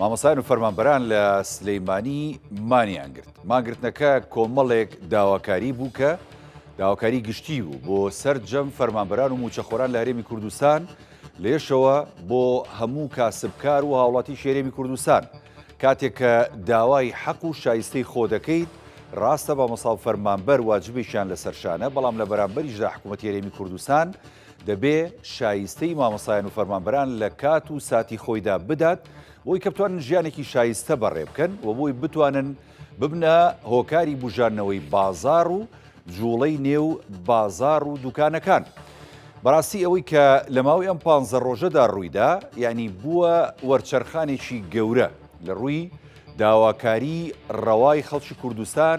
مامۆستایان و فەرمانبەران لە سلەیمانی مانیان گرت ماگرتنەکە کۆمەڵێک داواکاری بوو کە داواکاری گشتی بوو بۆ سەرجەم فەرمانبەران و موچەخۆران لە هەرێمی کوردستان لێشەوە بۆ هەموو کاسبکار و هاوڵاتی شێرێمی کوردستان کاتێک کە داوای حەق و شایستەی خۆ دەکەیت ڕاستە بە مەسااو فەرمانبەر واجبێکیان لە سەرشانە بەڵام لە بەرامبەریشدا حکوومەت هێرێمی کوردستان دەبێ شایستەی مامۆستایان و فەرمانبەران لە کات و ساتی خۆیدا بدات بۆی کە بتوانن ژیانێکی شایستە بەڕێ بکەن و بۆی بتوانن ببنە هۆکاری بژانەوەی بازار و جوڵەی نێو بازار و دوکانەکان. بەڕاستی ئەوەی کە لە ماوەی ئەم پانزە ڕۆژەدا ڕوویدا یعنی بووە وەرچەرخانێکی گەورە لە ڕووی داواکاری ڕەوای خەڵکی کوردستان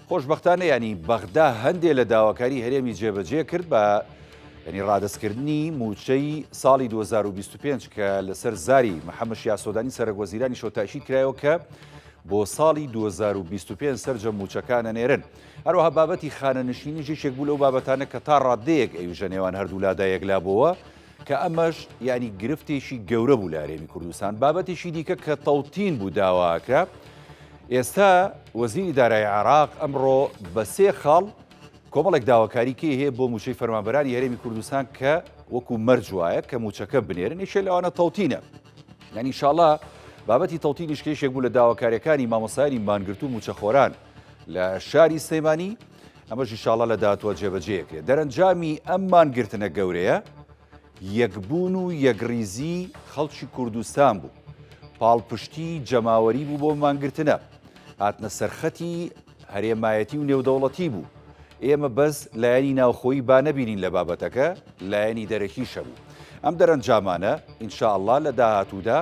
خۆشبەختانە یانی بەغدا هەندێ لە داواکاری هەرێمی جێبەجێ کرد بە یعنی ڕادستکردنی موچەی ساڵی 2025 کە لەسەر زاری محەممە شیاسۆدانی سەرک وەزیرانی شۆتاکی کرایەوە کە بۆ ساڵی 2025 سرجە موچەکانە نێرن هەروەها بابەتی خانە نشینی ژێکێک بوو لەو بابەتانە کە تا ڕادەیەک ئەوژە نێوان هەردوولادا یەکلابەوە کە ئەمەش یانی گرفتێکی گەورە بوو لە هەرێمی کوردستان، بابەتێکی دیکە کە تەوتین بوو داواکرا ئێستا وەزیری دارایی عێراق ئەمڕۆ بە سێ خاڵ کۆمەڵێک داواکاری کێ هەیە بۆ موچەی فەرمانبەرانی هەرێمی کوردستان کە وەکو مەرج وایە کە موچەکە بنێرن یشێ لەوانە تەوتینە یعنی شاڵە بابەتی تەوتینیش کێشێک بوو لە داواکاریەکانی مامۆسایانی مانگرتو و موچەخۆران لە شاری سلەیمانی ئەمەش ئیشاڵا لە داهاتووە جێبەجێکرێت. دەرەنجامی ئەم مانگرتنە گەورەیە یەکبوون و یەکڕیزی خەڵکی کوردستان بوو. پاڵپشتی جەماوەری بوو بۆ مانگرتنە. هاتنە سەرخەتی هەرێمایەتی و نێودەوڵەتی بوو. ئێمە بەس لایەنی ناوخۆیی با نەبینین لە بابەتەکە، لایەنی دەرەکیش هەبوو. ئەم دەرەنجامانە ئینشاڵا لە داهاتوودا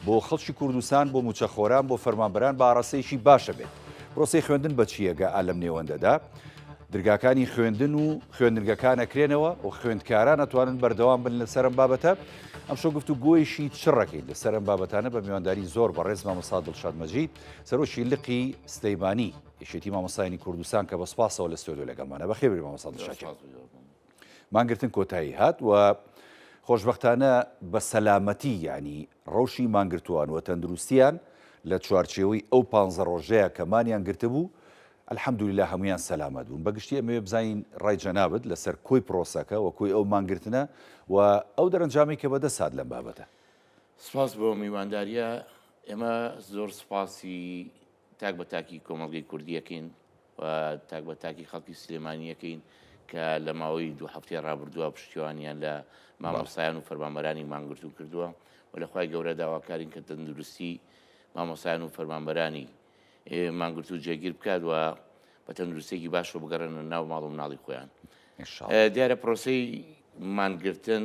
بۆ خەڵکی کوردستان بۆ موچەخۆران بۆ فەرمانبەران باڕەسەیەکی باشە بێت پرۆسی خوێندن بەچیەگە ئالەم نێوەندەدا درگاکانی خوێندن و خوێندنگەکانە کرێنەوە و خوێندکاران ئەتوانن بەردەوام بن لە سەرم بابەتە ئەم شو گفت و گۆیشی چڕەکەی لە سەرم بابەتانە بە میوانداری زۆر بە ڕێز مامەسا دڵشادمەجی سەرۆکی لقی سلەیمانی یشێتی مامەسایانی کوردستان کە بە سپاسەوە لە ستۆدیۆ لەگەڵمانە بەخێبری مامەسا دڵشاکی مانگرتن کۆتایی هات و خۆشبەختانە بە سەلامەتی یانی ڕەوشی مانگرتووان و تەندروستیان لە چوارچێوەی ئەو پانزە ڕۆژەیە کە مانیان گرتبوو الحمدللە هەموویان سەلامەت بوون بەگشتی ئەمەوێ بزانین ڕای جەنابت لەسەر کۆی پرۆسەکە و کۆی ئەو مانگرتنە و ئەو دەرەنجامەی کە بەدەست هات لەم بابەتە. سپاس بۆ میوانداریە، ئێمە زۆر سپاسی تاک بە تاکی کۆمەڵگەی کوردییەکەین و تاک بە تاکی خەڵکی سلێمانییەکەین کە لە ماوەی دوو هەفتەی ڕابردووە پشتیوانیان لە مامۆسایان و فەرمانبەرانی مانگرتوو کردووە و لەخوای گەورە داواکارین کە تەندروستی مامۆسایان و فەرمانبەرانی مانگرتوو جێگیر بکات و بە تەندروستێکی باشەوە بگەڕێنە ناو ماڵ و مناڵی خۆیان دیارە پرۆسی مانگرتن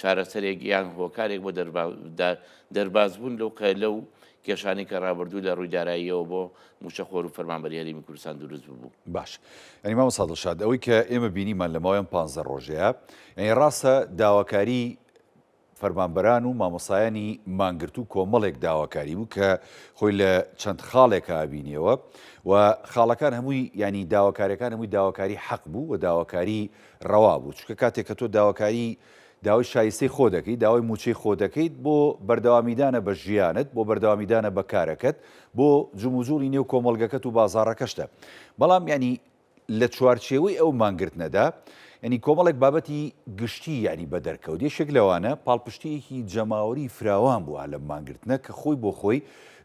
چارەسەرێک یان هۆکارێک بۆ دەربازبوون لەو قەیلە و کێشانەی کە ڕابردوو لە ڕووی داراییەوە بۆ مووچەخۆر و فەرمانبەری هەرێمی کوردستان دروست ببوو. باش یانی مامۆستا دڵشاد ئەوەی کە ئێمە بینیمان لە ماوەی ئەم پانزدە ڕۆژەیە یانی ڕاستە داواکاری فەرمانبەران و مامۆستایانی مانگرتوو کۆمەڵێک داواکاری بوو کە خۆی لە چەند خاڵێکە بینیەوە و خاڵەکان هەمووی ینی داواکاریەکان هەمووی داواکاری حەق بوو و داواکاری ڕەوا بوو، چونکە کاتێک کە تۆ داواکاری داوای شایستەی خۆ دەکەیت، داوای مووچەی خۆ دەکەیت، بۆ بەردەوامیدانە بە ژیانت، بۆ بەردەوامیدانە بە کارەکەت، بۆ جموجوڵی نێو کۆمەڵگەکەت و بازاڕەکەشتە. بەڵام یانی لە چوارچێوەی ئەو مانگرتنەدا یانی کۆمەڵێک بابەتی گشتی یانی بە دەرکەوت، یەکێک لەوانە پاڵپشتییەکی جەماوەری فراوان بوو لەم مانگرتنە کە خۆی بۆ خۆی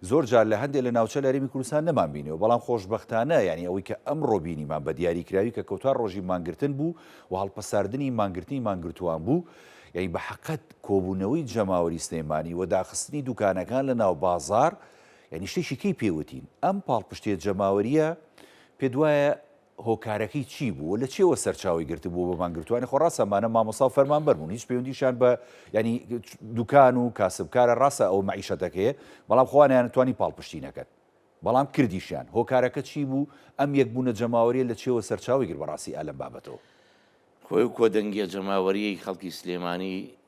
زۆر جار لە هەندێ لە ناوچە لە هەرێمی کوردستان نەمانبینیەوە، بەڵام خۆشبەختانە یانی ئەوەی کە ئەمڕۆ بینیمان بە دیاریکراوی کە کۆتا ڕۆژی مانگرتن بوو و هەڵپەساردنی مانگرتنی مانگرتووان بوو، یانی بە حەقەت کۆبوونەوەی جەماوەری سلێمانی و داخستنی دوکانەکان لە ناو بازاڕ یانی شتێکی کەی پێوتین ئەم پاڵپشتیە جەماوەریە پێت وایە هۆکارەکەی چی بوو و لە چیەوە سەرچاوەی گرتبوو بۆ مانگرتووانی، خۆ ڕاستە ئەمانە مامۆستا و فەرمانبەر بوون هیچ پەیوەندیشیان بە یانی دوکان و کاسبکارە ڕاستە ئەوە مەعیشەتەکەیە بەڵام خۆیان نەیانتوانی پاڵپشتی نەکەن بەڵام کردیشیان، هۆکارەکە چی بوو ئەم یەکبوونە جەماوەریە لە چیەوە سەرچاوەی گرت بەڕاستی ئا لەم بابەتەوە؟ خۆی ئەو کۆدەنگیە جەماوەریەی خەڵکی سلێمانی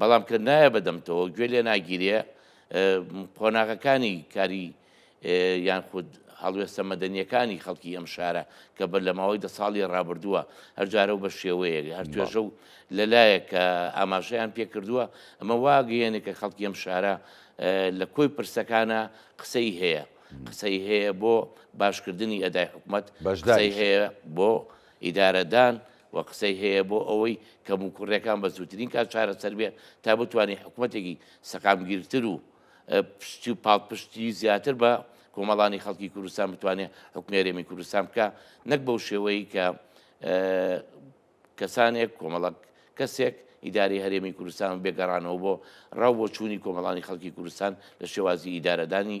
بەڵام کە نایە بەدەمتەوە گوێ لێ ناگیرێ قۆناغەکانی کاری یان خود هەڵوێستە مەدەنیەکانی خەڵکی ئەم شارە کە بەر لە ماوەی دە ساڵی ڕابردووە هەرجارە و بە شێوەیەک هەر توێژە و لەلایەک کە ئاماژەیان پێ کردووە ئەمە واگەیەنێک کە خەڵکی ئەم شارە لە کۆی پرسەکانە قسەی هەیە قسەی هەیە بۆ باشکردنی ئەدای حکومت بەشداری هەیە بۆ ئیدارەدان و قسەی هەیە بۆ ئەوەی کەموکوڕیەکان بە زووترین کات چارەسەر بێ تا بتوانین حکومەتێکی سەقامگیرتر و پشتی و پاڵپشتی زیاتر بە کۆمەڵانی خەڵکی کوردستان بتوانێت حکمێرێمی کوردستان بکە نەک بەو شێوەیە کە کەسانێک کۆمەڵک کەسێک ئیداری هەرێمی کوردستان بێگەڕانەوە بۆ ڕاو بۆ چووی کۆمەڵانی خەڵکی کوردستان لە شێوازی ئیدارەدانی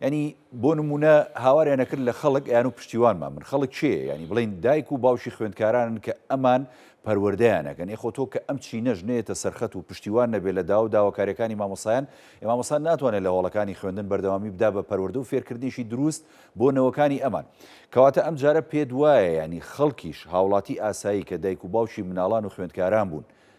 یانی بۆ نمونە هاواریان نەکرد لە خەڵک یان و پشتیوانمان من خەڵک چێ ینی بڵین دایک و باوکی خوێندکارانن کە ئەمان پەروەردەیانەکەن یخۆ تۆ کە ئەم چی نەژ نێتە سەرخەت و پشتیوان نەبێ لە داو داواکاریەکانی مامۆسایان ئێمامۆسان ناتوانێت لە هۆڵەکانی خوێندن بەردەوامی بدا بە پەروەردە و فێرکردنیشی دروست بۆ نەوەکانی ئەمان کەواتە ئەم جارە پێت وایە ینی خەڵکیش هاوڵاتی ئاسایی کە دایک و باوکی مناڵان و خوێندکاران بوون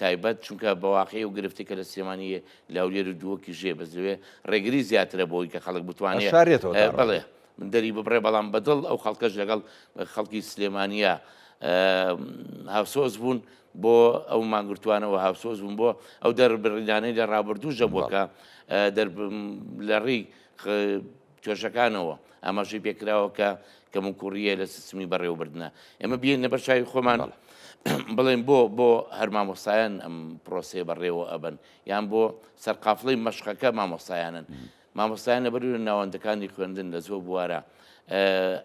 تایبەت چونکە بەواقعی و گرفتی کە لە سلێمانی لاولێر و دووەکی ژێ بەزوێ ڕێگری زیاترە بۆی کە خەڵک بتوانێت شارێتەوە بڵێ من دەری ببڕێ بەڵام بەدڵ ئەو خەڵکەش لەگەڵ خەڵکی سلێمانە هاوسۆز بوون بۆ ئەو مانگرتوانەوە هاوسۆز بوون بۆ ئەو دەربڕینانەی لە ڕابردوو ژەبووەکە لە ڕێی کێشەکانەوە، ئاماژەی پێکراوە کە کەموکوڕییە لە سیستمی بەڕێوەبردنە. ئێمە بهێنینە بەر چاوی خۆمان بڵێین بۆ بۆ هەر مامۆستایان ئەم پرۆسەیە بەڕێوە ئەبەن، یان بۆ سەرقافڵەی مەشقەکە مامۆستایانن؟ مامۆستایان لەبەروی ناوەندەکانی خوێندن لە زۆر بوارە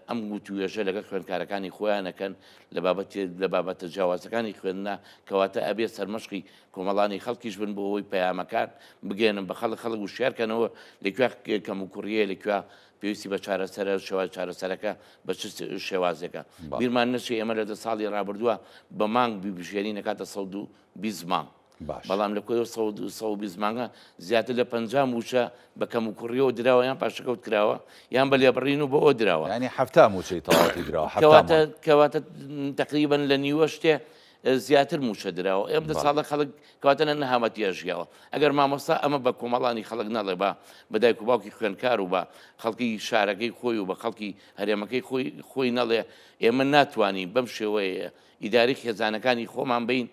ئەم وتووێژە لەگەڵ خوێندکارەکانی خۆیان ئەکەن لە بابەتێ لە بابەتە جیاوازەکانی خوێندنا، کەواتە ئەبێ سەرمەشقی کۆمەڵانی خەڵکیش بن بۆ ئەوەی پەیامەکان بگەێنن بە خەڵک خەڵک وشارکەنەوە لەکوێ کەم و کوڕیە لەکوێ پێویستی بە چارەسەرە شێوای چارەسەرەکە بە چ شێوازێکە بیرمان نەچی ئێمە لە دە ساڵی رابردووە بە مانگ ببژێنی نەکاتە سە و بیست مانگ بەڵام لە کۆی سە بیست مانگە زیاتر لە پ موچە بە کەم و کوڕیەوە دراوە یان پاشەکەوت کراوە یان بە لێبڕین و بە ئەو دراوە ینی هەفتا موچەی تەواتی دراوە کەواتە تقریبن لە نیوە شتێ زیاتر موچە دراوە ئەم دە ساڵە خەڵک کاتەنە نەهامەتیە ژیاوە ئەگەر مامۆستا ئەمە بە کۆمەڵانی خەڵک نەڵێ بە بەدایک و باوکی خوێنکار و بە خەڵکی شارەکەی خۆی و بە خەڵکی هەرێمەکەی خۆی خۆی نەڵێ ئێمە ناتوانین بەم شێوەیە ئیداری خێزانەکانی خۆمان بین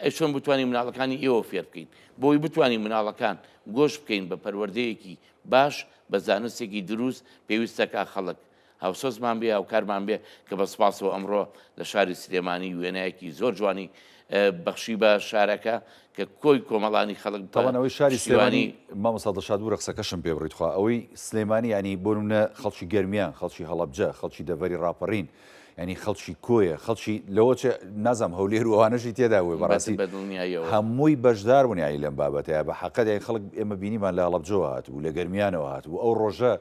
ئەشۆن بتوانین مناڵەکانی ئێوە فێر بکەین بۆی بتوانین مناڵەکان گۆش بکەین بە پەروەردەیەکی باش بە زانستێکی دروست پێویستەکە خەڵک هاوسۆزمان بێ هاوکارمان بێ کە بە سپاسەوە ئەمڕۆ لە شاری سلێمانی وێنایەکی زۆر جوانی بەخشی بە شارەکە کە کۆی کۆمەڵانی خەڵک تاوانەوەی شاری سلێمانی مامۆستا دڵشاد بوو رەقسەکەشم پێ بڕیتخوا ئەوەی سلێمانی ینی بۆنە خەڵکی گەرمیان خەڵکی هەڵبجە خەڵکی دەڤری راپەڕین ینی خەڵکی کۆیە خەڵکی لەوە نازم هەولێر وانەشی تێدا وێ بەڕاستی هەمووی بەشدار بوون یانی لەم بابەتەیە بە حقەت یای خەڵک ئێمە بینیمان لە هەڵبجەوە هاتبوو لە گەرمیانەوە هاتبوو ئەو ڕۆژە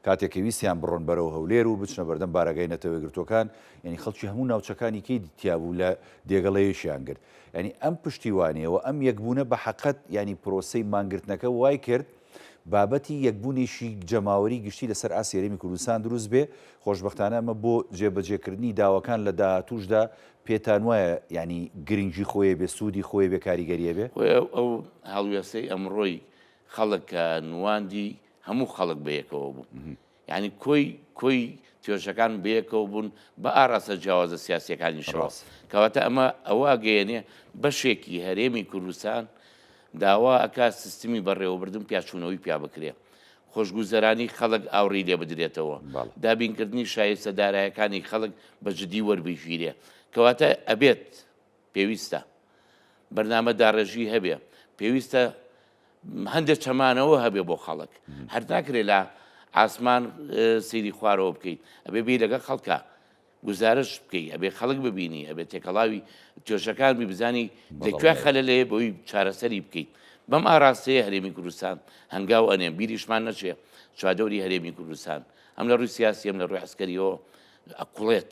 کاتێک کە ویستیان بڕۆن بەرەو هەولێر و بچنە بەردەم بارەگای نەتەوەیەکگرتووەکان، یانی خەڵکی هەموو ناوچەکانی کەیدی تیا بوو لە دێگە ڵەیەکیان گرت. یانی ئەم پشتیوانیە و ئەم یەکبوونە بە حەقت یانی پرۆسەی مانگرتنەکە وای کرد بابەتی یەکبوونێکی جەماوەری گشتی لە سەر ئاستی هەرێمی کوردستان دروست بێ، خۆشبەختانە ئەمە بۆ جێبەجێ کردنی داواکان لە داهاتووشدا پێتان وایە یانی گرنگی خۆێ بێ، سوودی خۆێ بێ، کاریگەریێ بێ؟ خۆێ ئەو هەڵوێستەی ئەمڕۆی خەڵک کە نواندی هەموو خەڵک بەیەکەوە بوو یانی کۆی کۆی توێژەکان بەیەکەوە بوون بە ئاراستە جیاوازە سیاسیەکانی شڕاست کەواتە ئەمە ئەوە گەێنێ بەشێکی هەرێمی کوردستان داوا ئەکا سیستمی بەڕێوەبردن پیاچوونەوەی پیا بکرێ خۆشگوزەرانی خەڵک ئاوڕی لێ بدرێتەوە دابینکردنی شایستە دارایەکانی خەڵک بە جددی وەربگیرێ کەواتە ئەبێت پێویستە بەرنامە داڕێژی هەبێ پێویستە هەندێک چەمانەوە هەبێ بۆ خەڵک هەر ناکرێت لە ئاسمان سیری خوارەوە بکەیت ئەبێ بی لەگە خەڵکە گزارش بکەیت ئەبێ خەڵک ببینی ئەبێ تێکەڵاوی توێژەکان بی بزانی لەکوێ خەلە لێ بۆی چارەسەری بکەیت بەم ئاراستەیە هەرێمی کوردستان هەنگاو ئەنێ بیریشمان نەچێ چوادەوری هەرێمی کوردستان ئەم لە ڕووی سیاسیم لە ڕووی عسکەریەوە ئەقڵێت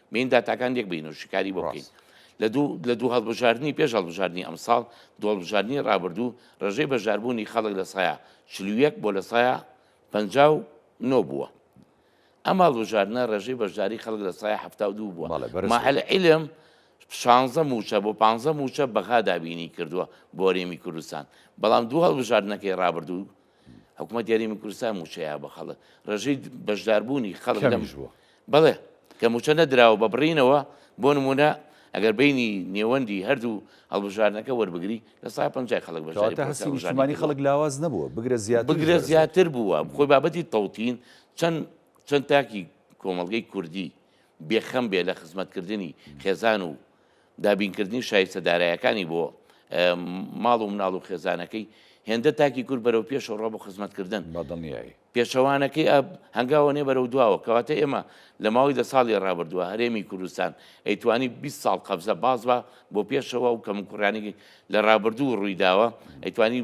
بین داتاکان لێک بین و شیکاری بۆ بکەین. لە دوو هەڵبژاردنی پێش هەڵبژاردنی ئەمساڵ، دوو هەڵبژاردنی ڕابردوو ڕێژەی بەشداربوونی خەڵک لە سایە چل و یەک بۆ لە سایە پەنجا و نۆ بووە. ئەم هەڵبژاردنە ڕێژەی بەشداری خەڵک لە سایە حەفتا و دوو بووە. ماهل عیلم شانزە مووچە بۆ پانزە مووچە بەغا دابینی کردووە بۆ هەرێمی کوردستان، بەڵام دوو هەڵبژاردنەکەی ڕابردوو حکوومەت یاریمی کوردستان موچەیە بە خەڵک ڕێژەی بەشداربوونی خەڵک لەمش بووە بەڵێ کە موچە نەدراوە بە بڕینەوە بۆ نمونە ئەگەر بینی نێوەندی هەردوو هەڵبژارنەکە وەربگری لە سا پ خەڵک بەژانی خەڵک لاواز نەبووە بگرە زیاد بگرە زیاتر بووە خۆی بابەتی تەوتین چەند چەند تاکی کۆمەلگەی کوردی بێخەم بێ لە خزمەتکردنی خێزان و دابینکردنی شایستە دارایەکانی بۆ ماڵ و مناڵ و خێزانەکەی هێندە تاکی کورد بەرەو پێشەوە ڕۆ بۆ خزمەتکردن بەدڵنیایی پێچەوانەکەی ئەب هەنگاوەێ بەرەو دواوە کەواتە ئێمە لە ماوەی دە ساڵی ڕابردووە هەرێمی کوردستان ئەیتوانی 20 ساڵ قەبزە باز بە بۆ پێشەوە و کەم کوڕانێکی لە ڕابردوو ڕوویداوە ئەیتوانی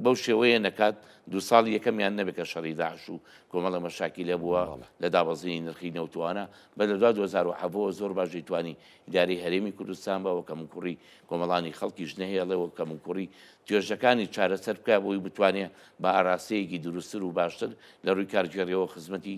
بەو شێوەیە نەکات دوو ساڵی یەکەمیان نەبێت کە شەڕی داعش و کۆمەڵە مەشاکی لە بووە لە دابەزینی نرخی نەوتوانە بە لە دوا 2007ەوە زۆر باش دەیتوانی ئیداری هەرێمی کوردستان بەوە کەم کوڕی کۆمەڵانی خەڵکیش نەهێڵەوە کەم کوڕی توێژەکانی چارەسەر بکە بۆی بتوانێت بە ئاراستەیەکی دروستتر و باشتر لە ڕووی کارگێڕیەوە خزمەتی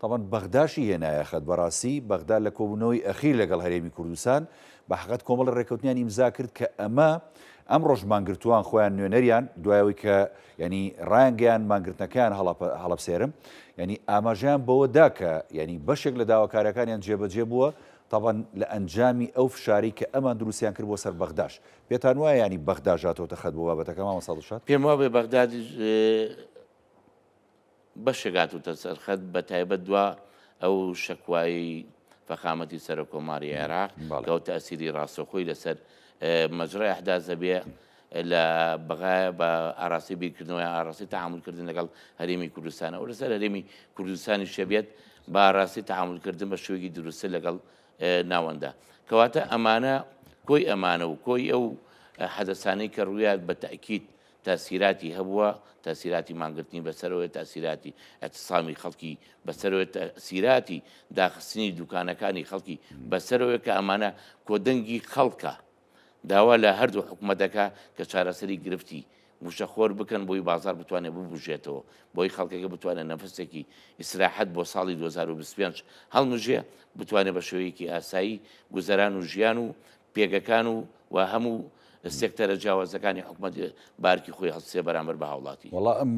تەبعەن بەغداشی هێنایە خەت بەڕاستی بەغدا لە کۆبوونەوەی ئەخیر لەگەڵ هەرێمی کوردستان بە حەقەت کۆمەڵی ڕێککەوتنیان ئیمزا کرد کە ئەمە ئەمڕۆش مانگرتووان خۆیان نوێنەریان دوای ئەوەی کە یعنی ڕایانگەیان مانگرتنەکەیان هەڵەبسێرم یعنی ئاماژەیان بەوە دا کە یعنی بەشێک لە داواکاریەکانیان جێبەجێ بووە تەبەن لە ئەنجامی ئەو فشاری کە ئەمان دروستیان کرد بۆ سەر بەغداش پێتان وایە ینی بەغداژاتەوە تەخەت بۆ بابەتەکە مامە ساڵشات پێم وابێ بەغدادی بەشێک هاتووتە سەر خەت بە تایبەت دوا ئەو شەکوایەی فەخامەتی سەرۆک کۆماری عێراق کە ئەو تەسیری ڕاستەخۆی لەسەر مەجرای ئەحداس دەبێ لە بەغایە بە ئاراسی بیرکردنەوەی ئاراسی تەعاملکردن لەگەڵ هەرێمی کوردستانە و لەسەر هەرێمی کوردستانی شەبێت بە ئاراسی تەعاملکردن بە شوێکی دروستە لەگەڵ ناوەندە کەواتە ئەمانە کۆی ئەمانە و کۆی ئەو حەدەسانەی کە ڕویات بە تاکییت تاسیراتی هەبووە، تاسیراتی مانگرتنی بەسەرەوەیە، تاسیراتی ئیعتسامی خەڵکی بەسەرەوەیە، تاسیراتی داخستنی دوکانەکانی خەڵکی بەسەرەوەیە کە ئەمانە کۆدەنگی خەڵکە. داوا لە هەردوو حکومەت دەکا کە چارەسەری گرفتی مووشەخۆر بکەن بۆی بازاڕ بتوانێ ببوژێتەوە، بۆی خەڵکەکە بتوانێ نەفەسێکی ئیسراحەت بۆ ساڵی دوو هەزار و بیست و پێنج هەڵمژێ، بتوانێ بە شێوەیەکی ئاسایی گوزەران و ژیان و پێگەکان و و هەموو سێکتەرە جیاوازەکانی حکومەت بارکی خۆی هەڵسێ بەرامبەر بە هاوڵاتی. وەڵا ئەم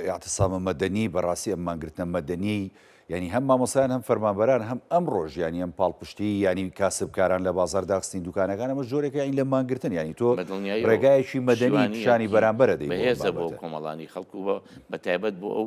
ئیعتسامە مەدەنی بەڕاستی ئەم مانگرتنە مەدەنیەی یانی هەم مامۆستایان هەم فەرمانبەران هەم ئەم ڕۆژ یانی ئەم پاڵپشتی یانی کاسبکاران لە بازار داخستین دوکانەکان ئەمە جۆرێک یانی لە مانگرتن یانی تۆ ڕێگایەکی مەدەنی پیشانی بەرامبەرە دەی بەهێزە بۆ کۆمەڵانی خەڵکو بە بەتایبەت بۆ ئەو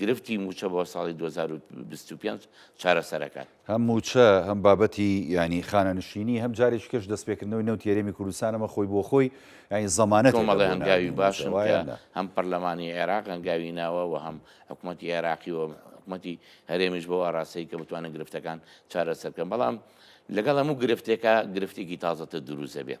گرفتی مووچە بۆ ساڵی دوو هەزار و بیست و پێنج چارەسەرەکات. هەم مووچە، هەم بابەتی یانی خانەنشینی، هەم جارێکی کەش دەستپێکردنەوەی نەوتی هەرێمی کوردستان، ئەمە خۆی بۆ خۆی یانی زەمانەتێکە بۆ ناردنی مووچە، وایە؟ کۆمەڵێ هەنگاوی باشن کە هەم پەرلەمانی عێراق هەنگاوی ناوە و هەم حکومەتی عێراقی و حکومەتی هەرێمیش بەو ئاراستەی کە بتوانن گرفتەکان چارەسەر بکەن، بەڵام لەگەڵ هەموو گرفتێکا گرفتێکی تازەتر دروست دەبێت.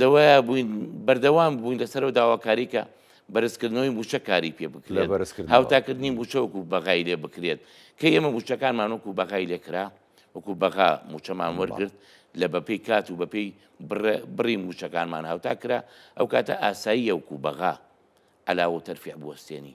لەوەیە بووین بەردەوام بووین لەسەر و داواکاری کە بەرزکردنەوەی موچە کاری پێ بکرێت هاوتاکردنی موچە وکو بەغای لێ بکرێت کە ئێمە موچەکانمان وکو بەغای لێکرا وکو بەغا موچەمان وەرگرت لە بەپی کات و بەپی بڕی موچەکانمان هاوتا کرا ئەو کاتە ئاسایی یەوکو بەغا علاوە تەرفع بوەستێنی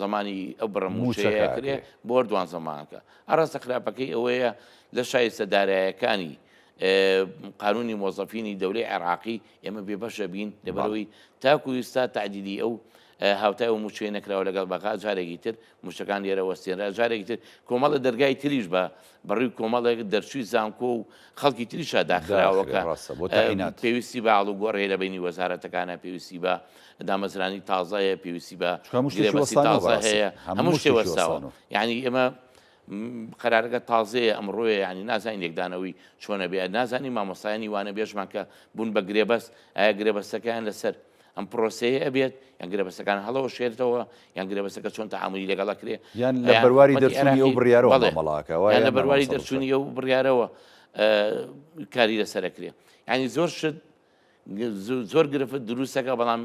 زمانی ئەو بڕە مووچەیە کرێ بۆ دوان زمانەکە ئاراستە خراپەکەی ئەوەیە لە شایستە دارایەکانی قانونی مۆزەفینی دەورەی عێراقی ئێمە بێبەشە بین لەبەرەوەی تاکو ئیستا تعدیدی ئەو هاوتای و موچێ نەکراوە لەگەڵ بەغا جارێکی تر موشەکان لێرە وەستێنرا جارێکی تر کۆمەڵە دەرگای تریش بە بەڕووی کۆمەڵێک دەرچووی زانکۆ و خەڵکی تریشا داخراوەکە پێویستی بە ئاڵوگۆڕی لە بینی وەزارەتەکانە پێویستی بە دامەزرانی تازایە پێویستی بە تازە هەیە هەموو شتێ وەرساوە یعنی ئێمە قەرارەکە تازەیە ئەم ڕۆیە ینی نازانین لێکدانەوەی چۆنە بێ نازانی مامۆستایانی وانە بێژمان کە بوون بە گرێبەست ئایا گرێبەستەکەیان لەسەر ئەم پرۆسەیە ئەبێت یان گرێبەستەکان هەڵەوە شێرتەوە یان گرێبەستەکە چۆن تەعاملی لەگەڵ ئەکرێ یان لە بەرواری دەرچوونی ئەو بڕیارەوە بەڵێ مامەڵە ئەکەوە یان لە بەرواری دەرچوونی ئەو بڕیارەوە کاری لەسەر ئەکرێ یانی زۆر شت زۆر گرفت دروستەکە بەڵام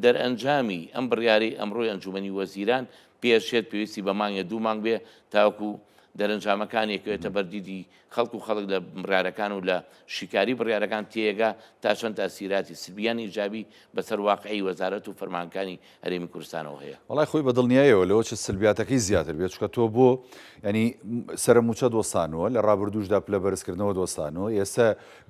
دەرئەنجامی ئەم بڕیاری ئەمڕۆی ئەنجومنی وەزیران پێشێت پێویستی بە مانگە دوو مانگ بێ تاوەکو دەرەنجامەکانێکێتە بەردیدی خەڵک و خەڵک لە بڕیارەکان و لە شیکاری بڕیارەکان تێیەگا تا چەند تاسیراتی سلبی یان ئیجابی بە سەر واقعی وەزارەت و فەرمانەکانی هەرێمی کوردستانەوە هەیە. وەڵای خۆی بە دڵنیایەوە لەوە چ سلبیاتەکەی زیاتر بێت چونکە تۆ بۆ یانی سەرە مووچە دۆستانوە لە ڕابردووشدا پلە بەرز کردنەوە دۆستانوە ئێستە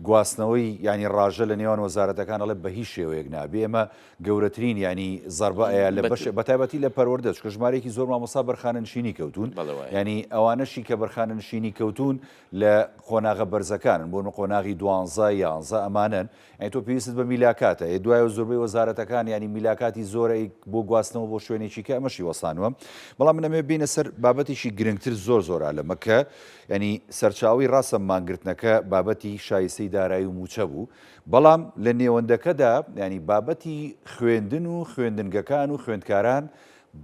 گواستنەوەی یانی ڕاژە لە نێوان وەزارەتەکان ئەڵێ بە هیچ شێوەیەک نا بێ ئێمە گەورەترین یانی زەربە ئەیا لە بەش بەتایبەتی لە پەروەردە چکە ژمارەیەکی زۆر مامۆستا بەرخانە نشینی کەوتون ینی ئەوانەشی کە بەرخانە نشینی کەوتون لە قۆناغە بەرزەکانن بۆ نە قۆناغی دوانزە یانزە ئەمانن ئەین تۆ پێویست بە میلاکاتە ئێ دوای و زۆربەی وەزارەتەکان ینی میلاکاتی زۆرە بۆ گواستنەوە بۆ شوێنێکی کە ئەمەشی وەسانوە بەڵام منەمێ بینە سەر بابەتێکی گرنگتر زۆر زۆرا لە مەکە ینی سەرچاوی ڕاستە مانگرتنەکە بابەتی شایستەی دارایی و موچە بوو بەڵام لە نێوەندەکەدا یانی بابەتی خوێندن و خوێندنگەکان و خوێندکاران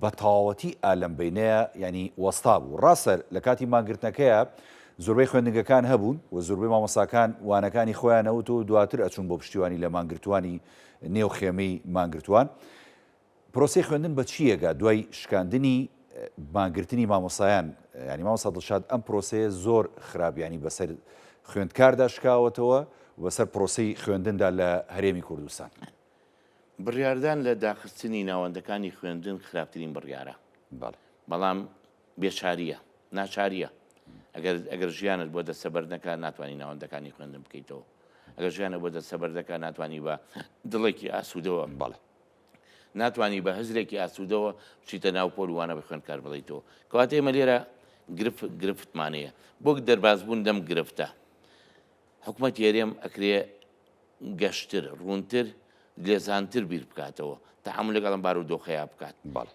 بە تەواوەتی ئا لەم بەینەیە یانی وەستابوو. ڕاستە لە کاتی مانگرتنەکەیا زۆربەی خوێندنگەکان هەبوون و زۆربەی مامۆستاکان وانەکانی خۆیان ئەوت و دواتر ئەچوون بۆ پشتیوانی لە مانگرتووانی نێو خێمەی مانگرتووان، پرۆسەی خوێندن بە چیەگا دوای شکاندنی مانگرتنی مامۆستایان ینی مامۆستا دڵشاد ئەم پرۆسەیە زۆر خراپ ینی بەسەر خوێندکاردا شکاوەتەوە وبەسەر پرۆسەی خوێندندا لە هەرێمی کوردستان. بڕیاردان لە داخستنی ناوەندەکانی خوێندن خراپترین بڕیارە بەڵام بێچارییە ناچارییە ئەگەر ئەگەر ژیانت بۆ دەستەبەر نەکە ناتوانانی ناوەندەکانی خوێندن بکەیتەوە ئەگەر ژیانە بۆ دەستەبەر دەکە ناتوانانی بە دڵێکی ئاسوودەوە بەڵێ ناتوانی بە هزرێکی ئاسوودەوە بچیتە ناو پۆل وانە بە خوێنکار بڵیتەوە کەوات ئێمە لێرە گرفت گرفتمانەیە بۆک دەربازبوون دەم گرفتە حکوومەت هێرێم ئەکرێ گەشتر ڕوونتر لێزانتر بیر بکاتەوە تەعامل لەگەڵم بار و دۆخەیە بکات بەڵێ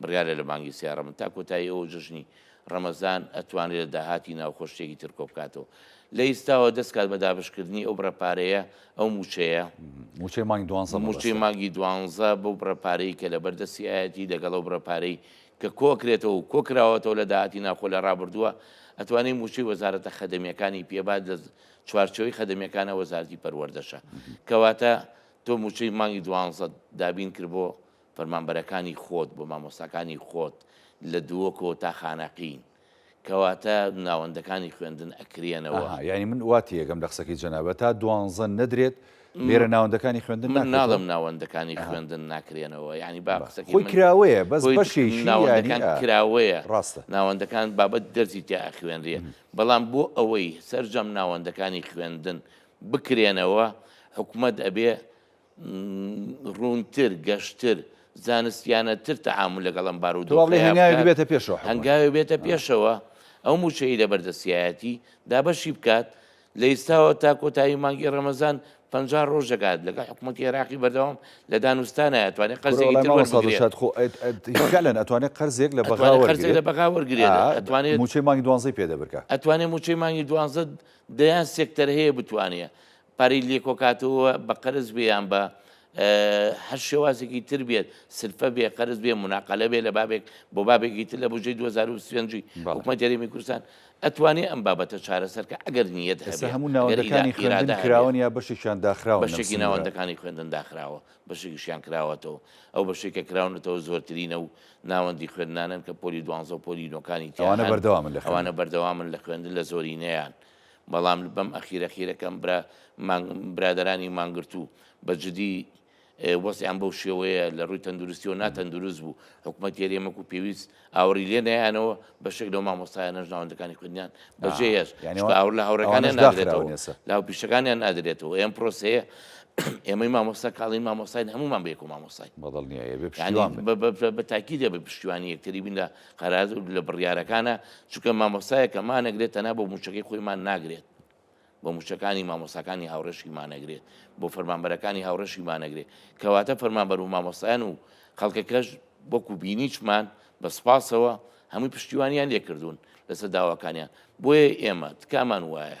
بڕیارە لە مانگی سێ ڕەمز تا کۆتایی ئەوە جەژنی ڕەمەزان ئەتوانرێت لە داهاتی ناوخۆ شتێکی تر کۆبکاتەوە لە ئیستاوە دەست کات بە دابەشکردنی ئەو بڕە پارەیە ئەو مووچەیە مووچەی مانگی دوانزە مووچەی مەبەستە. مانگی دوانزە بەو بڕە پارەی کە لە بەردەستی ئایەتی لەگەڵ ئەو بڕە پارەی کە کۆکرێتەوە و کۆکراوەتەوە لە داهاتی ناوخۆ لە ڕابردووە ئەتوانێت مووچەی وەزارەتە خەدەمیەکانی پێبات لە چوارچێوەی خەدەمیەکانە وەزارەتی پەروەردەشە کەواتە تۆ مووچەی مانگی دوانزەت دابین کرد بۆ فەرمانبەرەکانی خۆت بۆ مامۆستاکانی خۆت لە دووکۆ تا خانەقین کەواتە ناوەندەکانی خوێندن ئەکرێنەوە. ئەها یانی من وا تێیەگەم لە قسەکەی جەنابت تا دوانزە نەدرێت لێرە ناوەندەکانی خوێندن ناکرێتەوە؟ من ناڵێم ناوەندەکانی خوێندن ناکرێنەوە یانی با قسەکەی من خۆی کراوەیە بەس بەشێکی یانی ناوەندەکان کراوەیە ڕاستە ناوەندەکان بابەت دەرزی تیا ئەخوێنرێ بەڵام بۆ ئەوەی سەرجەم ناوەندەکانی خوێندن بکرێنەوە حکومەت ئەبێ ڕوونتر گەشتر زانستیانە تر تەعامل لەگەڵ ئەم بارودۆخە دوابڵێ هەنگاوێک بکات. بێتە پێشەوە حکومەت. هەنگاوێ بێتە پێشەوە ئەو موچەی لە بەردەسیایەتی دابەشی بکات لە ئیستاوە تا کۆتایی مانگی ڕەمەزان پ ڕۆژ دەکات لەگە حکوومەتی عێراقی بەردەوام لە دانوستانە توانێت بڕۆ قەرزێکی لای تر مامۆستا وەربگرێت دڵشاد خۆ ئەت ئەت فعلەن ئەتوانێت قەرزێک لە بەغا ئەتوانێت قەرزێک لە وەرگێت بەغا وەرگێت ئەتوانێت موچەی مانگی دوانزەی پێ دەبرکە ئەتوانێت موچەی مانگی دوانزە دەیان سێکتەر هەیە بتوانێت پارەی لێکۆکاتەوە بە قەرز بێ یان بە هەر شێوازێکی تر بێت سلفە بێ قەرز بێ مناقلە بێ لە بابێک بۆ بابێکی تر لە بژەی 2025 حکومەت یاریمی کوردستان ئەتوانێ ئەم بابەتە چارەسەرکە ئەگەر نیەت هەموو ناوەکانی خرادا کراون یا بەشێکیان داخراوە بەشێکی ناوەندەکانی خوێندن داخراوە بەشێکیشیان کراوەتەوە ئەو بەشێکە کراونەتەوە زۆرترینە و ناوەندی خوێندنانن کە پۆلی دوانزە و پۆلی نۆکانی تیانە بەردەوامن لە خوانە بەردەوامن لە خوێندن لە زۆرینەیان بەڵام بەم ئەخیرە خیرە کەم برا مانگ برادەرانی مانگرتوو بە جدی وەسیان بەو شێوەیە لە ڕووی تەندروستیەوە ناتەندروست بوو حکوومەت تێرێمەک و پێویست ئاوری لێ نیانەوە بە شک لەو مامۆستایە نەژ ناوەندەکانی خوندیان بەجێ هێش ئاور لە هاوڕەکانیان ناگرێتەوە لا پیشەکانیان نادرێتەوە ئەم پرۆسەیە ئێمەی مامۆستا کاڵین مامۆستاین هەمومان بێکو مامۆستای بەدڵنیایە بە تاکی دێ بە پشتیوانی یەکتری بین لە قەرار لە بڕیارەکانە چونکە مامۆستایە کە مانەگرێت تەنا بۆ موچەکەی خۆیمان ناگرێت بۆ موچەکانی مامۆساکانی هاوڕێشی مانەگرێت بۆ فەرمانبەرەکانی هاوڕێشی مانەگرێت کەواتە فەرمانبەر و مامۆستایان و خەڵکەکەش وەکو بینیچمان بە سپاسەوە هەمووی پشتیوانیان لێکردوون لەسەر داواکانیان بۆیە ئێمە تکامان وایە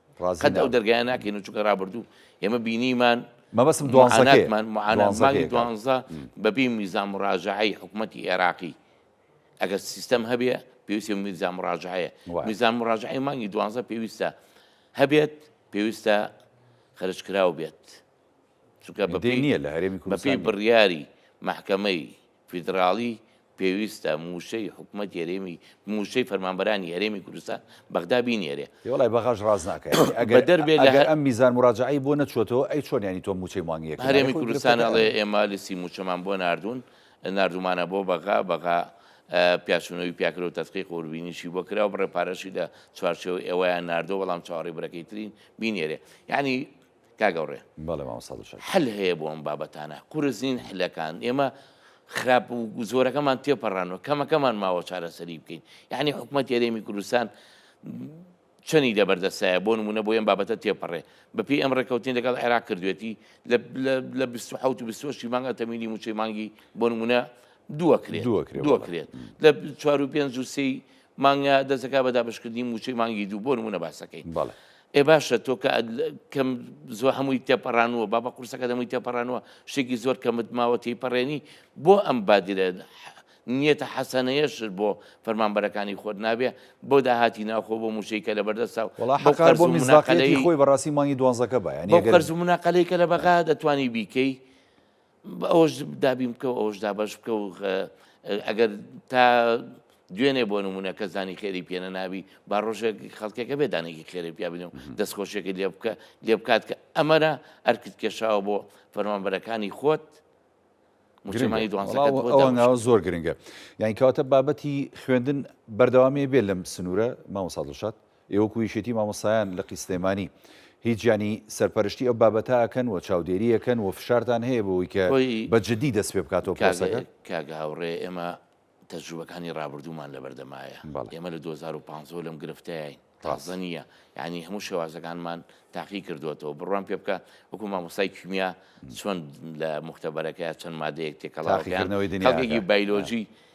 قەت ئەو دەرگایە ناکەین و چونکە رابردوو ئێمە بینیمان مەبەسم دوانزەکەمان معانانزمانی دوانزە بەبی میزان ڕاژعی حکوومەتتی عێراقی ئەگەر سیستەم هەبێ پێویستی میزان ڕاژعەیە میزان ڕاژعی مانگی دوانزە پێویستە هەبێت پێویستە خەرشکراو بێت چونکە بەپی نییە لە هەرێمی کوردپی بڕیاری محکەمەی فیدراڵی پێویستە مووشەی حکومەتی هەرێمی مووشەی فەرمانبەرانی هەرێمی کوردستان بەغدا بینێرێ. ئێ وەڵای بەغاش ڕاست ناکا یانی ئەگەر بەدەربێ لە ئەگەر ئەم میزان موراجەعەی بۆ نەچووەتەوە ئەی چۆن یانی تۆ مووچەی مانگیەکت نایە هەرێمی خۆی کوردستان گرفتەکە ئەڵێ ئەمەیە. ئێمە لیستی مووچەمان بۆ ناردوون ناردوومانە بۆ بەغا بەغا پیاچوونەوەی پیا کرد و تەدقیق و وربینیشی بۆ کرا و بڕێ پارەشی لە چوارچێوەی ئێوەیان ناردووە بەڵام چاوەڕێی بڕەکەی ترین بینێرێ یانی کاک ئەوڕێ بەڵێ مامۆستا دڵشاد. حل هەیە بۆ ئەم بابەتانە قورس نین حلەکان ئێمە خراپ و زۆرەکەمان تێپەڕانوە کەمەکەمان ماوە چارەسەری بکەین یعنی حکومەت یاێمی کوردستان چەنی لە بەردەسایە بۆ نمونە بۆ ئەم بابەتە تێپەڕێ بەپی ئەم ڕێککەوتین لەگەڵ عێراق کردوێتی لە 1970 مانگە تەمیلی موچەی مانگی بۆ نمونە دووەکرێت دووەکرێت لە چوار و پێنج و سی مانگە دەستەکە بە دابشکردنی موچەی مانگی دوو بۆ نمونە باسەکەی ئێ باشە تۆ کە کەم زۆر هەمووی تێپەڕانووە بابە قورسەکە دەمووی تێپەڕانوە شتێکی زۆر کەمت ماوە تێپەڕێنی بۆ ئەم بادرە نیەتە حەسەنەیەش بۆ فەرمانبەرەکانی خۆت نابێ بۆ داهاتی ناوخۆ بۆ موشەیکە لە بەردەستا و وڵاحقار بۆ منزاقلەی خۆی بەڕاستی مانگی دوانزەکە بە یانە قەرز و مناقلەی کە لە بەغا دەتوانی بیکەی ئەوەش دابین بکە و ئەوەش دابش بکە و ئەگەر تا دوێنێ بۆ نمونە کە زانی خێری پێێنە نابی با ڕۆژێک خەڵکێکە بێدانێکی خێری پیابنم دەستخۆشێکی لێ بکە لێ بکات کە ئەمەرە ئەرکت کێشاوە بۆ فەرمانبەرەکانی خۆت مجتمعی دوانەوە زۆر گرنگە یعنی کەواتە بابەتی خوێندن بەردەوامی بێ لەم سنوورە مامۆسادڵشات ئێ وەکو یەکێتی مامۆستایان لقی سلێمانی هیچ یانی سەرپەرشتی ئەو بابەتە ئەکەن و چاودێری ئەکەن و فشارتان هەیە بەوەی کە خۆی بە جدی دەست پێ بکاتەوە پرۆسەکە؟ کاک کاک هاوڕێ ئێمە تەجروبەکانی ڕابردوومان لەبەردەمایە بەڵێ ئێمە لە دوو هەزار و پازدە و لەم گرفتەیاین ڕاست تازە نییە یانی هەموو شێوازەکانمان تاقی کردووەتەوە بڕوام پێ بکە وەکو مامۆستای کیمیا چۆن لە موختەبەرەکەیا چەند مادەیەک تێکەڵاوە پێیان تاقیکردنەوەی دنیاکە خەڵکێکی نا بایلۆجی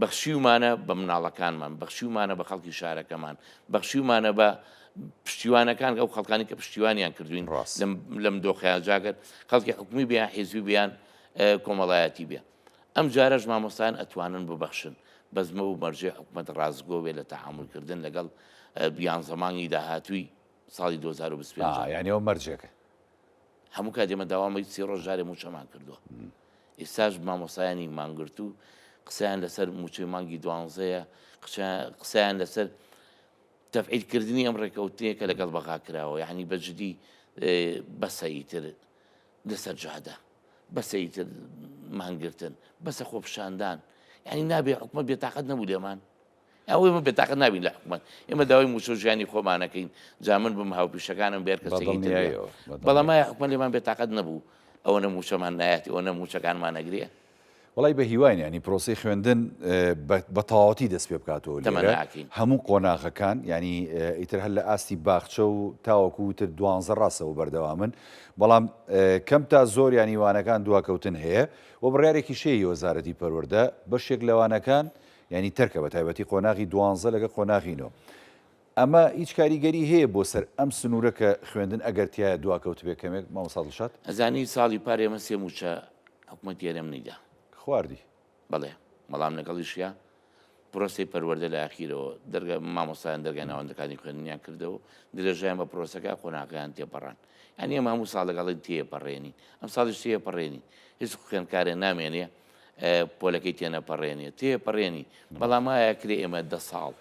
بەخشیومانە بە مناڵەکانمان، بەخشیومانە بە خەڵکی شارەکەمان، بەخشیومانە بە پشتیوانەکان، ئەو خەڵکانی کە پشتیوانیان کردوین لەم دۆخەیان جاگەر خەڵکی حکومی بێ یان حیزبی بیان کۆمەڵایەتی بێ. ئەم جارەش مامۆستایان ئەتوانن ببەخشن، بەس مەو مەرجەی حکومەت ڕاستگۆ بێ لە تەعامولکردن لەگەڵ یانزە مانگی داهاتووی ساڵی دوو هەزار و بیست و پێنج. ئا یانی ئەوە مەرجێکە. هەموو کات ئێمە داوامەی سی ڕۆژ جارێ مووچەمان کردووە. ئیستاش مامۆسایانی مانگرت و قسەیان لەسەر مووچەی مانگی دوانزەیە، قسەیان لەسەر تەفعیلکردنی ئەم ڕێکەوتنەیە کە لەگەڵ بەغا کراوە، یانی بەجدی بەسە ئیتر لەسەر جادە، بەسە ئیتر مانگرتن، بەسە خۆپیشاندان، یانی نابێ حکومەت بێتاقەت نەبوو لێمان؟ ئەوە ئێمە بێتاقەت نابین لە حکومەت، ئێمە داوای موچە و ژیانی خۆمانەکەین، جا من بم، هاوپیشەکانم بێ، هەر کەسێکی تر بێ، بەڵام ئایا حکومەت لێمان بێتاقەت نەبوو، ئەوەنە موچەمان نایەتی، ئەوەنە موچەکانمان ئەگرێ؟ وەڵای بە هیواین یانی پرۆسەی خوێندن بە تەواوەتی دەست پێ بکاتەوە لێرە، هەموو قۆناغەکان یانی ئیتر هەر لە ئاستی باخچە و تاوەکو وتر دوانزە ڕاستەوە بەردەوامن، بەڵام کەم تا زۆر یانی وانەکان دواکەوتن هەیە و بڕیارێکیش هەیە هی وەزارەتی پەروەردە، بەشێک لە وانەکان یانی تەرکە بە تایبەتی قۆناغی دوانزە لەگەڵ قۆناغی نۆ. ئەمە هیچ کاریگەری هەیە بۆ سەر ئەم سنوورە کە خوێندن ئەگەر تیایە دواکەوتبێ کەمێک مامۆستا دڵشاد؟ ئەزانی ساڵی پار ئێمە سێ مووچە حکومەتی هەرێمنی دا. خواردی؟ بەڵێ، بەڵام لەگەڵیشیا پرۆسەی پەروەردە لە ئاخیرەوە دەرگا مامۆستایان دەرگای ناوەندەکانی خوێندنیان کردەوە درێژەیان بە پرۆسەکە قۆناغەکەیان تێپەڕاند یانی ئێمە هەموو ساڵ لەگەڵی تێپەڕێنین ئەمساڵیش تێپەڕێنین هیچ خوێندکارێ نامێنێ پۆلەکەی تێنەپەڕێنێ تێپەڕێنی بەڵام ئایا کرێ ئێمە دە ساڵ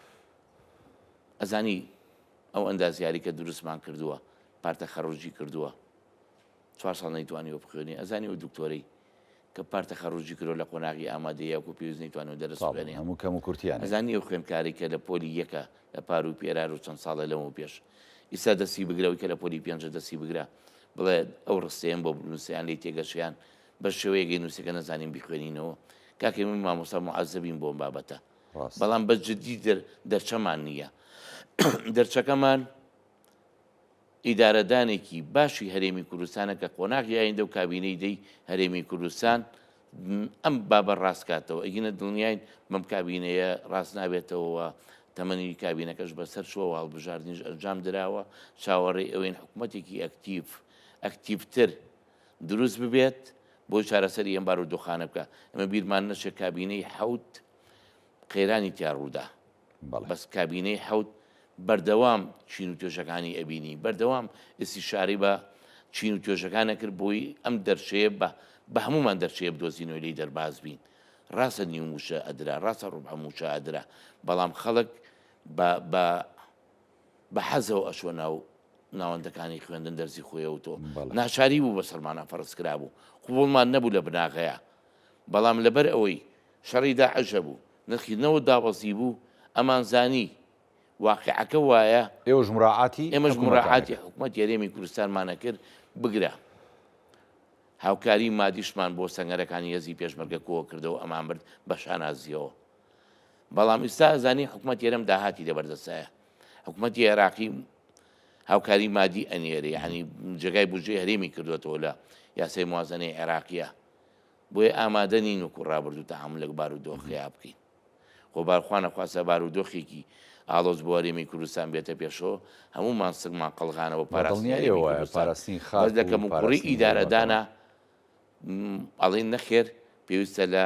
ئەزانی ئەو ئەندازیاری کە دروستمان کردووە پارتە خەڕۆژی کردووە چوار ساڵ نەیتوانانی وە بخوێنی ئەزانی و دکتۆرەی کە پارتە خەڕۆژی کرۆ لە قۆناغی ئامادەیە و پێویست نەیتوان و دەرسێنی هەموو کەم و کورتیان ئەزانی و خوێنکاری کە لە پۆلی یەکە لە پار و پێرار و چەند ساڵە لەمە پێش ئیستا دەستی بگرەوەی کە لە پۆلی پێنج دەستی بگرە بڵێ ئەو ڕستەیەم بۆ بنووسیان لی تێگەشیان بەس شێوەیەک ئەی نووسێ کە نەزانین بیخوێنینەوە. کاکەی من مامۆستا موعەزەبین بۆم بابەتە. ڕاست. بەڵام بەس جدی دەر دەرچەمان نییە. دەرچەکەمان ئیدارەدانێکی باشی هەرێمی کوردستانە کە قۆناغی ئایندە و کابینەی دەی هەرێمی کوردستان ئەم بابە ڕاستکاتەوە ئەگینە دڵنیاین بەم کابینەیە ڕاست نابێتەوە تەمەنی کابینەکەش بەسەر شووە هەڵبژاردنیش ئەنجام دراوە چاوەڕێ ئەوەین حکوومەتێکی ئەکتیف ئەکتیفتر دروست ببێت بۆ چارەسەری ئەم بارودۆخانە بکە ئەمە بیرمان نەچێت کابینەی حوت قەیرانی تیا ڕوودا بەس کابینەی حوت بەردەوام چین و توێژەکانی ئەبینی بەردەوام ئستی شاری بە چین و توێژەکانە کرد بۆی ئەم دەرچەیە بە بە هەمومان دەرچەیە بدۆزینەوە لی دەرباز بین ڕاستە نیو موشە ئەدرا ڕاستە ڕوبعە موشە ئەدرا بەڵام خەڵک بە بە حەزەوە ئەچوە ناو ناوەندەکانی خوێندن دەرزی خۆیەوە تۆ ناچاری بوو بە سەرمانە فەرز کرابوو قوڵمان نەبوو لە بناغەیە بەڵام لەبەر ئەوەی شەڕی داعشە بوو نرخی نەوە دابەزی بوو ئەمان زانی واقعەکە وایە ئێوەش مراعاتی ئێمەش مراعاتی حکومەت یاێمی کوردستانمانە کرد بگرە هاوکاری مادیشمان بۆ سەنگەرەکانی هێزی پێشمەرگە کۆوە کردەوە ئەمان برد بە شانازیەوە بەڵام ئیستا ئەزانین حکومەتی هەرێم داهاتی لە بەردەستایە حکومەتی عێراقی هاوکاری مادی ئەنێری یعنی جێگای بژێ هەرێمی کردوێتەوە لە یاسای موازنەی عێراقیە بۆیە ئامادە نین وکو ڕابردوو تاعام لەک بار و دۆخیا بکەین خۆ بارخواانە خواسە بار و دۆخێکی ئاڵۆز بۆ هەرێمی کوردستان بێتە پێشەوە هەموو ماسکمان قەلغانەوە پاراستنی خاز دەکەم وپڕی ئیدارەدانا ئەڵین نەخێر پێویستە لە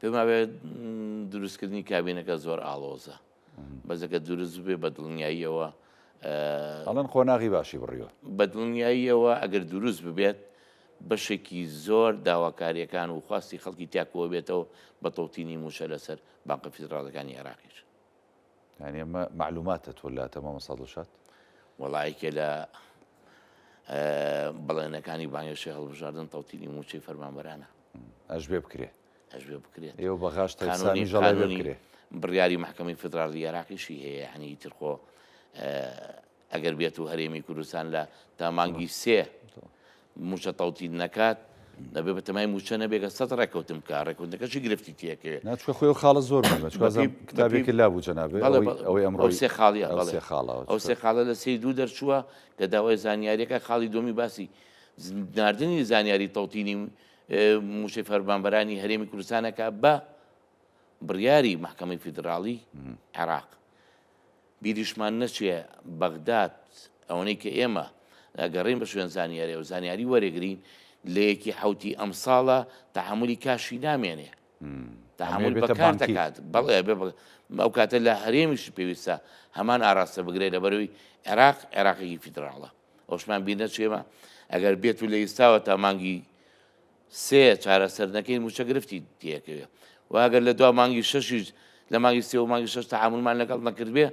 پێماوێت دروستکردنی کابینەکە زۆر ئاڵۆزە بەزەکە دروست بێ بە دڵنیاییەوە ئەڵەن قۆناغی باشی بڕیوە بە دڵنیاییەوە ئەگەر دروست ببێت بەشێکی زۆر داواکاریەکان و خواستی خەڵکی تاکووە بێتەوە بە تەوتینی موچە لەسەر بانقە فیدراڵەکانی عێراقیش یانی ئەمە مەعلوماتە تۆ لاتە مامۆستا دڵشاد وەڵا یەکێ لە بەڵێنەکانی بانگێشی هەڵبژاردن تەوتیلی موچەی فەرمانبەرانە ئەش بێ بکرێ ئەش بێ بکرێت ئێوە بە غاش تەسانی ژەڵای بکرێ بڕیاری محکمەی فدراڵی عێراقیشی هەیە هەنی ترخۆ ئەگەر بێت و هەرێمی کوردستان لە تا مانگی سێ موچە تەوتین نەکات نەبێ بە تەمای موچە نەبێگە سە ڕێککەوتم بکە ڕێکوتەکەشی گرفتی تێکێ ناچکە خۆی خاڵە زۆر کتابێکی لا بوو جەنابێ ئەوەی ئەمڕۆ سێ خاڵی خاڵە ئەو سێ خاڵە لە سی دوو دەرچووە کە داوای زانیاریەکە خاڵی دومی باسی ناردنی زانیاری تەوتینی موشەی فەرمانبەرانی هەرێمی کوردستانەکە بە بڕیاری محکمەی فیدراڵی عێراق بیریشمان نەچێ بەغداد ئەوەنەی کە ئێمە ئەگەڕێین بە شوێن زانیاریە و زانیاری وەرێگرین لە یەکی حەوتی ئەمساڵە تەحەمولی کاشی نامێنێ تەحەمول بەکار دەکات بەڵێ بێ ئەو کاتە لە هەرێمیش پێویستە هەمان ئاراستە بگرێت لە بەروی عێراق عێراقی فیدراڵە ئەوشمان بیر نەچێمە ئەگەر بێت و لە ئیستاوە تا مانگی سێ، چارەسەرنەکەین مووچە گرفتی تێکەوێ و ئەگەر لە دوا مانگی شەشیش لە مانگی سێ و مانگی شەش تەعامولمان لەگەڵ نەکردبێ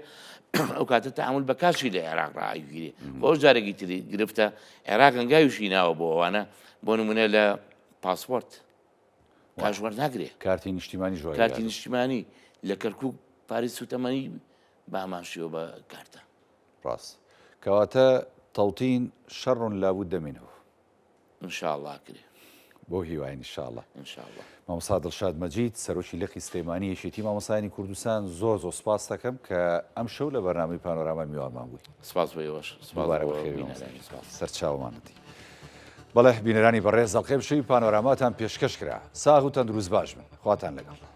ئەو کاتە تەعامول بە کاشی لە عێراق ڕائەگیرێ بۆ ئەو جارێکی تری گرفتە عێراق هەنگاویشی ناوە بۆ ئەوانە بۆ نمونە لە پاسپۆرت کاش وەرناگرێ کارتی نیشتیمانی ژۆ کارتی نیشتیمانی لە کەرکک پاری سوتەمەنی باماشیەوە بە کارتە ڕاست کەواتە تەوتین شەڕون لابوو دەمینەوە ان شاء اللە ئەکرێ. بەو هیوایە ان شاء اللە. ان شاء اللە. مامۆستا دڵشاد مەجید سەرۆکی لقی سلێمانی یەکێتی مامۆستایانی کوردستان زۆر زۆر سوپاستەکەم کە ئەم شەو لە بەرنامەی پانۆراما میوانمان بووی. سوپاس بۆ ئێوەش. سوپاس دووبارە بۆ بەخێر بێی بینەرانی. سوپاس. سەرچاومانەتی. بەڵێ بینەرانی بەڕێز ئەڵقەی ئەمشەوی پانۆراماتان پێشکەش کرا. ساغ و تەندروست باش بن. خواتان لەگەڵ.